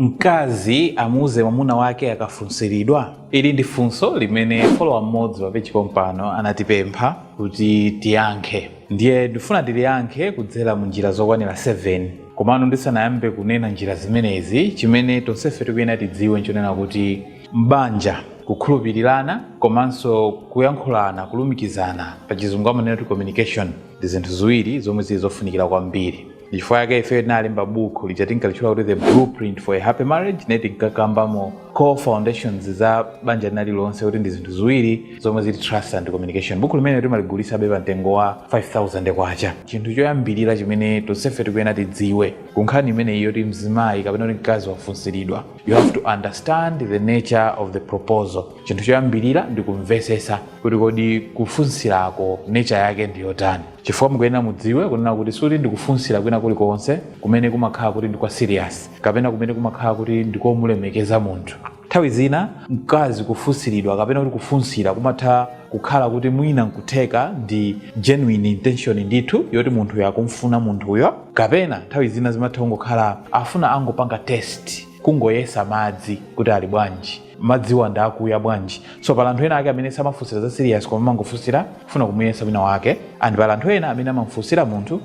Mkazi amuuze mwamuna wake akafunsiridwa? Ili ndi funso limene follower mmodzi pa page pompano anatipempha kuti tiyankhe ndiye ndifuna tiliyankhe kudzera mu njira zokwanira 7. Komano ndisanayambe kunena njira zimenezi, chimene tonsefe tikuyenera tidziwe nchonena kuti m'banja kukhulupirirana komanso kuyankhulana, kulumikizana, pachizungu amanena kuti communication, ndi zinthu ziwiri zomwe zili zofunikira kwambiri. chifukwa yake ifeyo tinalemba buku lija tinkalitchula kuti the blueprint for a happy marriage ne tinkakambamo core foundations za banja linalilonse kuti ndi zinthu ziwiri zomwe zili trust and communication buku limene timaligulitsabe pa mtengo wa 5000 kwacha chinthu choyambirira chimene tonsefe tikuyenera tidziwe ku nkhani imeneyi yoti mzimayi kapena kuti mkazi wafunsiridwa you have to understand the nature of the proposal chinthu choyambirira ndi kumvesesa kuti kodi kufunsirako nature yake ndi yotani chifukwa mukuyenera mudziwe kunena kuti sikuti ndi kufunsira kwina kulikonse kumene kumakhala kuti ndi kwa serious kapena kumene kumakhala kuti ndikomulemekeza munthu nthawi zina mkazi kufunsiridwa kapena kuti kufunsira kumatha kukhala kuti mwina nkutheka ndi genuine intention ndithu yoti munthuyo akumfuna munthuyo kapena nthawi zina zimatha kungokhala akufuna angopanga test kungoyesa madzi kuti ali bwanji madziwa ndi akuya bwanji so pali anthu ena ake amene samafunsira za serious koma amangofunsira kufuna kumuyesa wina wake and pali anthu ena amene amafunsira munthu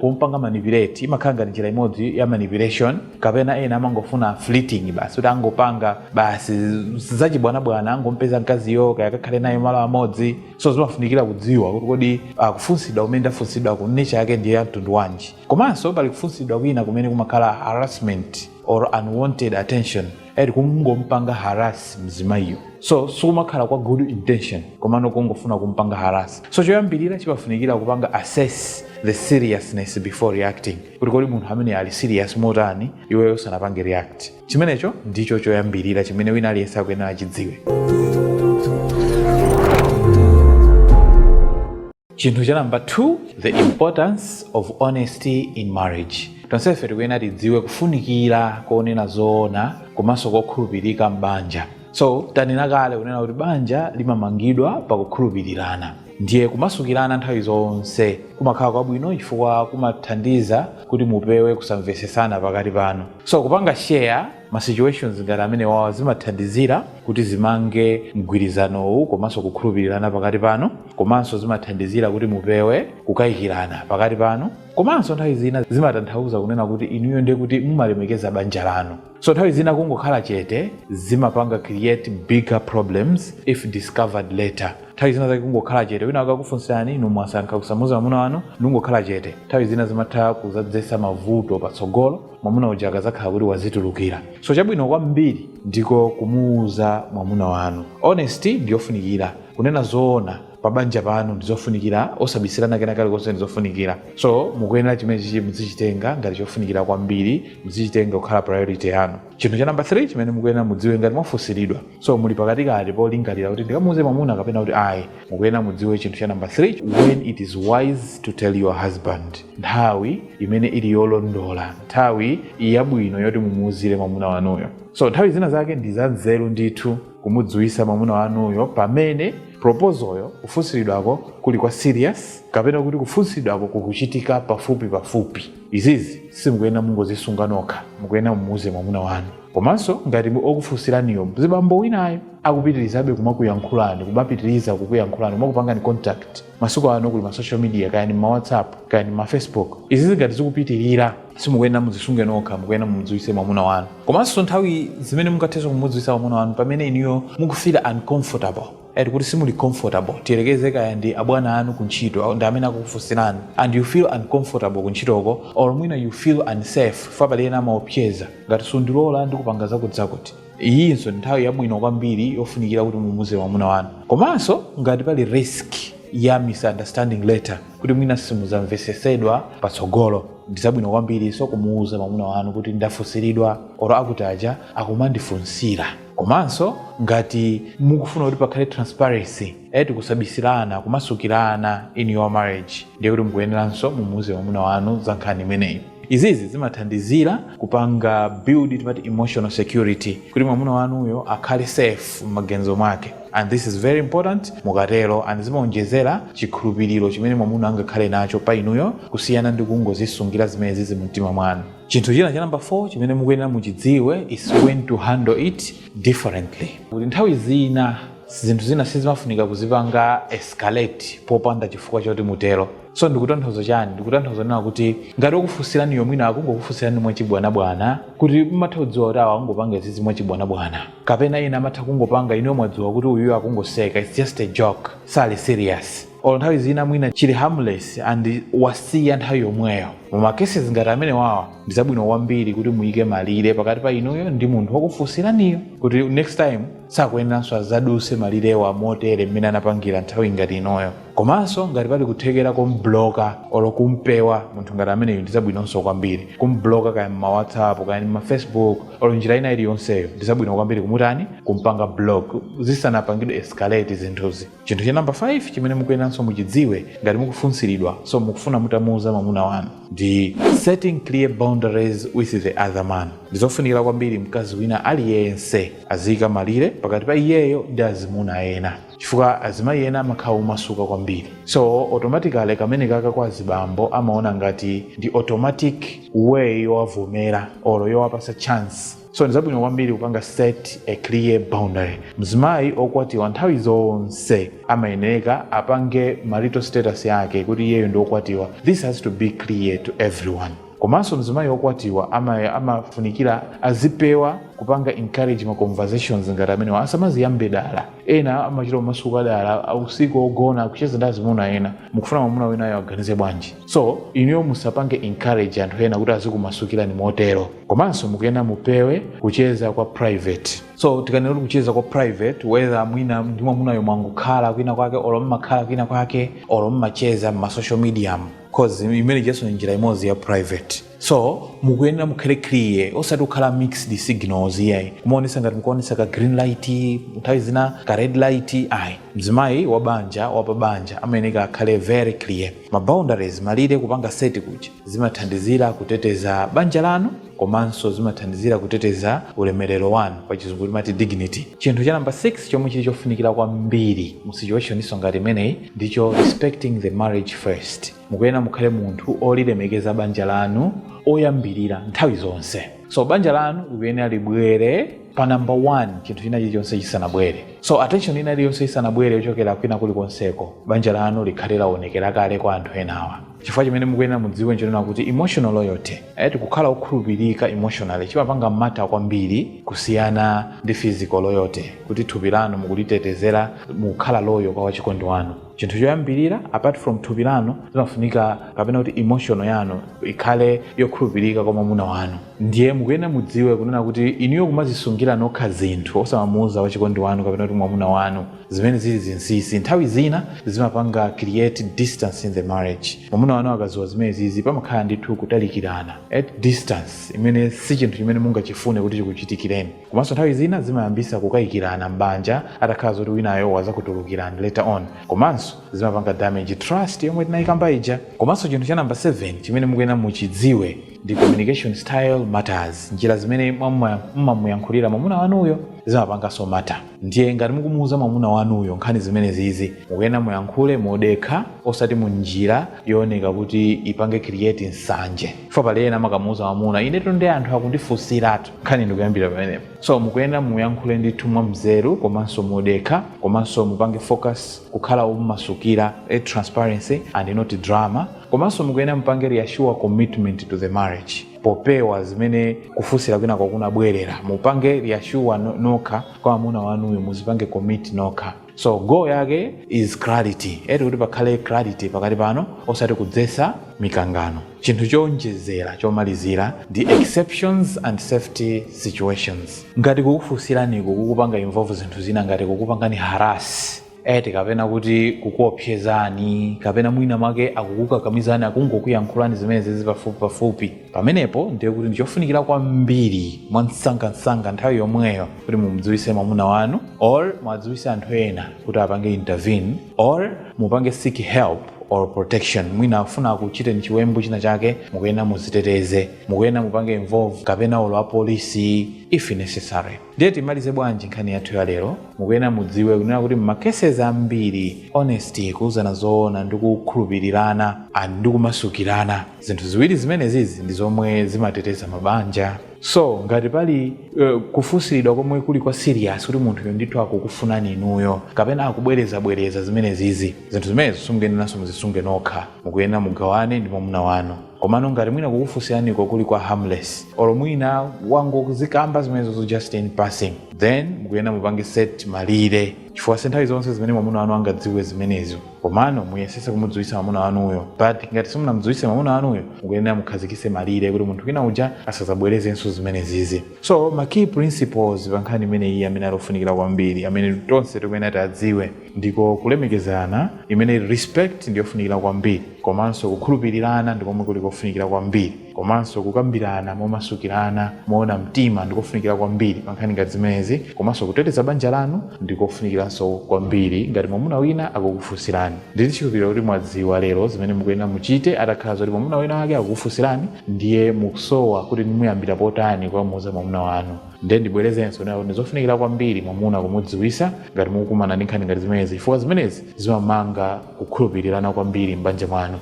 pompanga manipulate imakhala ngati njira imodzi ya manipulation kapena ena amangofuna fleeting basi kuti angopanga basi zachibwanabwana angompeza mkaziyo kaya akakhale naye malo amodzi so zimafunikira kudziwa kuti kodi kufunsidwa kumene ndafunsidwaku nature yake ndi ya mtundu wanji komanso pali kufunsidwa kwina kumene kumakhala harassment or unwanted attention eti kungompanga harass mzimayiyo so sikumakhala kwa good intention komano kungofuna kumpanga harass so choyambirira chimafunikira kupanga assess the seriousness before reacting kuti kodi munthu ameneyu ali serious motani iweyo usanapange react chimenecho ndicho choyambirira chimene wina aliyense akuyenera achidziwe chinthu cha number 2 the importance of honesty in marriage tonsefe tikuyenera tidziwe kufunikira konena zoona komanso kokhulupirika m'banja so tanena kale kunena kuti banja limamangidwa pakukhulupirirana ndiye kumasukirana nthawi zonse kumakhala kwabwino chifukwa kumathandiza kuti mupewe kusamvesesana pakati panu so kupanga share Ma situations ngati amenewawa zimathandizira kuti zimange mgwirizanowu komanso kukhulupirirana pakati panu komanso zimathandizira kuti mupewe kukayikirana pakati panu komanso nthawi zina zimatanthauza kunena kuti inuyo ndiye kuti mumalemekeza banja lanu so nthawi zina kungokhala chete zimapanga create bigger problems if discovered later nthawi zina zake kungokhala chete wina akakufunsirani inu mwasankha kusamuza mwamuna wanu ndikungokhala chete nthawi zina zimatha kuzadzetsa mavuto patsogolo mwamuna uja akazakhala kuti wazitulukira so chabwino kwambiri ndiko kumuuza mwamuna wanu honesty ndiyofunikira kunena zoona pa banja panu ndizofunikira osabisirana kena kalikonse ndizofunikira so mukuyenera chimenechi muzichitenga ngati chofunikira kwambiri muzichitenga kukhala priority yanu chinthu cha namba 3 chimene mukuyenera mudziwe ngati mwafunsiridwa so muli pakatikati polingalira kuti ndikamuuze mwamuna kapena kuti ayi mukuyenera mudziwe chinthu cha namba 3 when it is wise to tell your husband nthawi imene ili yolondola nthawi yabwino yoti mumuuzire mwamuna wanuyo so nthawi zina zake ndi zanzeru ndithu kumudziwisa mwamuna wanuyo pamene propozoyo kufunsiridwako kuli kwa serious kapena kuti kufunsiridwako kukuchitika pafupi pafupi izizi simukuyenera mungozisunga nokha mukuyenera mumuuze mwamuna wanu komanso ngati okufunsiraniyo mzibambo winayo akupitirizabe kumakuyankhulani kumapitiriza kukuyankhulani kumakupangani contact masiku ano kuli ma social media kaya ni ma whatsapp kaya ni ma facebook izizi ngati zikupitirira simukuyenera muzisunge nokha mukuyenera mumudziwitse mwamuna wanu komanso nthawi zimene mungathenso kumudziwitsa mwamuna wanu pamene inuyo mukufila uncomfortable ati kuti simuli comfortable tiyerekeze kaya ndi abwana anu ku ntchito ndi amene akukufunsirani and you feel uncomfortable ku ntchitoko or mwina you feel unsafe if pali ena amaopseza ngati sundilola ndikupanga zakutizakuti iyinso ndi nthawi yabwino kwambiri yofunikira kuti mumuuze mwamuna wanu komanso ngati pali risk ya misunderstanding later kuti mwina simuzamvesesedwa patsogolo ndizabwino kwambirinso kumuuza mwamuna wanu kuti ndafunsiridwa oro akuti aja akumandifunsira komanso ngati mukufuna kuti pakhale transparency eti kusabisirana kumasukirana in your marriage ndiye kuti mukuyeneranso mumuuze mwamuna wanu za nkhani imeneyi Izizi zimathandizira kupanga build timati emotional security kuti mwamuna wanuyo akhale safe mmaganizo mwake and this is very important mukatero and zimaonjezera chikhulupiriro chimene mwamuna angakhale nacho pa inuyo kusiyana ndi kungozisungira zimenezizi mumtima mwanu. Chinthu china cha number 4 chimene mukuyenera muchidziwe is when to handle it differently. Kuti nthawi zina zinthu zina sizimafunika kuzipanga escalate popanda chifukwa choti mutero. so ndikutanthauza chani ndikutanthauza kunena kuti ngati okufunsiraniyo mwina akungokufunsirani mwachibwanabwana kuti mumatha kudziwa kuti awa akungopanga izizi mwachibwanabwana kapena ena amatha kungopanga inuyo mwadziwa kuti uyuyo akungoseka its just a joke sali serious olo nthawi zina mwina chili harmless and wasiya nthawi yomweyo muma cases ngati amenewawa ndi zabwino kwambiri kuti muyike malire pakati pa inuyo ndi munthu wakufunsiraniyo kuti next time sakuyeneranso azaduse malirewa motere mmene anapangira nthawi ngati inoyo komanso ngati pali kuthekera kombloka olo kumpewa munthu ngati ameneyo ndizabwinonso kwambiri kumbloka kaya mmawhatsapp kaya mmafacebook olo njira ina iliyonseyo ndizabwino kwambiri kumutani kumpanga block zisanapangidwe escalate zinthuzi chinthu cha number 5 chimene mukuyenanso muchidziwe ngati mukufunsiridwa so mukufuna mutamuuza mwamuna wanu ndi setting clear boundaries with the other man ndizofunikira kwambiri mkazi wina aliyense aziyika malire pakati pa iyeyo ndi azimuna ena chifukwa azimayi ena amakhala omasuka kwambiri so automatically kamene kaka kwa azibambo amaona ngati ndi automatic way yowavomera olo yowapasa chance so ndi zabwino kwambiri kupanga set a clear boundary mzimayi okwatiwa nthawi zonse amayeneka apange marital status yake kuti iyeyo ndi okwatiwa this has to be clear to everyone komanso mzimayi okwatiwa amafunikira azipewa kupanga encourage ma conversations ngati amenewa asamaziyambe dala ena amachita kumasuka dala usiku ogona kucheza ndi azimuna ena mukufuna mwamuna winayo aganize bwanji so inuyo musapange encourage anthu ena kuti azikumasukirani motero komanso mukuyena mupewe kucheza kwa private so tikanena kuti kucheza kwa private whether mwina ndi mwamunayo mwangokhala kwina kwake olo mmakhala kwina kwake olo mmacheza m'ma social mediamu cause imene ijaso ndi njira imodzi ya private so mukuyenera mukhale clear osati kukhala mixed signals iyayi kumaonesa ngati mukuonesa ka green light nthawi zina ka red light ayi mzimayi wa banja wapa banja amayeneka akhale very clear ma boundaries malire kupanga set kuja zimathandizira kuteteza banja lanu komanso zimathandizira kuteteza ulemerero wanu pa chizungu timati dignity chinthu cha number 6 chomwe chili chofunikira kwambiri mu situation iso ngati imeneyi ndicho respecting the marriage first mukuyenera mukhale munthu olilemekeza banja lanu oyambirira nthawi zonse so banja lanu likuyenera libwere pa number 1 chinthu china chilichonse chisanabwere so attention ina iliyonse isanabwere yochokera kwina kulikonseko banja lanu likhale laonekera kale kwa anthu enawa chifukwa chimene mukuyenera mudziwe nchonena kuti emotional loyalty eti kukhala okhulupirika emotionally chimapanga matter kwambiri kusiyana ndi physical loyalty kuti thupi lanu mukulitetezera mukukhala loyal kwa wachikondi wanu chinthu choyambirira apart from thupi lanu zimafunika kapena kuti emotional yanu ikhale yokhulupirika kwa mwamuna wanu ndiye mukuyenera mudziwe kunena kuti inuyo kumazisungira nokha zinthu osamamuuza wachikondi wanu kapena kuti mwamuna wanu zimene zili zinsinsi nthawi zina zimapanga create distance in the marriage mwamuna wanu akaziwa zimenezizi pamakhala ndithu kutalikirana at distance imene si chinthu chimene mungachifune kuti chikuchitikireni Komanso nthawi zina zimayambisa kukayikirana m'banja atakhala zoti winayo wazakutulukirani later on komanso zimapanga damage trust yomwe tinaikamba ija. Komanso chinthu cha number 7 chimene mukuyena muchidziwe ndi communication style matters, njira zimene mumamuyankhulira mwamuna wanuyo zimapanganso matter ndiye ngati mukumuuza mwamuna wanuyo nkhani zimenezizi mukuyena muyankhule modekha osati munjira yooneka kuti ipange create nsanje. chifukwa pali ena amakamuuza mamuna inetu ndi anthu akundifunsiratu nkhani ndikuyambira pamenepo so mukuyenera muyankhule ndithu mwa mzeru komanso modekha komanso mupange focus kukhala omasukira a transparency and not drama komanso mukuyenera mupange reassure commitment to the marriage popewa zimene kufunsira kwina kwakunabwerera mupange reassure no- nokha kwa mamuna wanuyo muzipange commit nokha so goal yake is clarity eti kuti pakhale clarity pakati panu osati kudzesa mikangano chinthu chowonjezera chomalizira ndi exceptions and safety situations ngati kukufunsiraniku kukupanga involve zinthu zina ngati kukupangani harass eti kapena kuti kukuopsezani kapena mwina mwake akukukakamizani akungokuyankhulani zimene zizi pafupi pafupi pamenepo ndiye kuti ndichofunikira kwambiri mwa msangamsanga nthawi yomweyo kuti mumdziwise mwamuna wanu or mwadziwise anthu ena kuti apange intervene or mupange seek help or protection mwina akufuna akuchiteni chiwembu china chake mukuyenera muziteteze mukuyenera mupange involve kapena olo apolisi if necessary ndiye timalize bwanji nkhani yathu ya lero mukuyenera mudziwe kunena kuti mmakeses ambiri honesty kuuzana zoona ndi kukhulupirirana and ndi kumasukirana zinthu ziwiri zimenezizi ndi zomwe zimateteza mabanja so ngati pali uh, kufunsiridwa komwe kuli kwa serious kuti munthuyo ndithu akukufunani inuyo kapena akubwerezabwereza zimenezizi zinthu zimenezo simukuyeneranso muzisunge nokha mukuyenera mugawane ndi mwamuna wanu komano ngati mwina kukufunsiraniko kuli kwa harmless olo mwina wangozikamba zimenezozo just in passing then mukuyenera mupange set malire chifukwa si nthawi zonse zimene mwamuna wanu angadziwe zimenezo komano muyesese kumudziwitsa mamuna wanuyo but ngati simunamudziwitse mamuna wanuyo mukuyenera mukhazikise malire kuti munthu wina uja asazabwerezenso zimenezizi so ma key principles pa nkhani imene iyi amene ali ofunikira kwambiri amene tonse tikuyenera tiadziwe ndiko kulemekezana imene respect ndiyofunikira kwambiri komanso kukhulupirirana ndikomwe kuli kofunikira kwambiri Komanso kukambirana momasukirana moona mtima ndi kofunikira kwambiri pa nkhani ngati zimenezi. Komanso kuteteza banja lanu ndi kofunikiranso kwambiri. Ngati mwamuna wina akukufunsirani, ndili ndi chikhulupiriro kuti mwadziwa lero zimene mukuyenera muchite. Atakhala zoti mwamuna wina wake akukufunsirani, ndiye mukusowa kuti ndimuyambira potani kukamuuza mwamuna wanu. Ndiye ndibwerezenso kunena kuti ndi zofunikira kwambiri mwamuna kumudziwitsa ngati mukukumana ndi nkhani ngati zimenezi chifukwa zimenezi zimamanga kukhulupirirana kwambiri m'banja mwanu.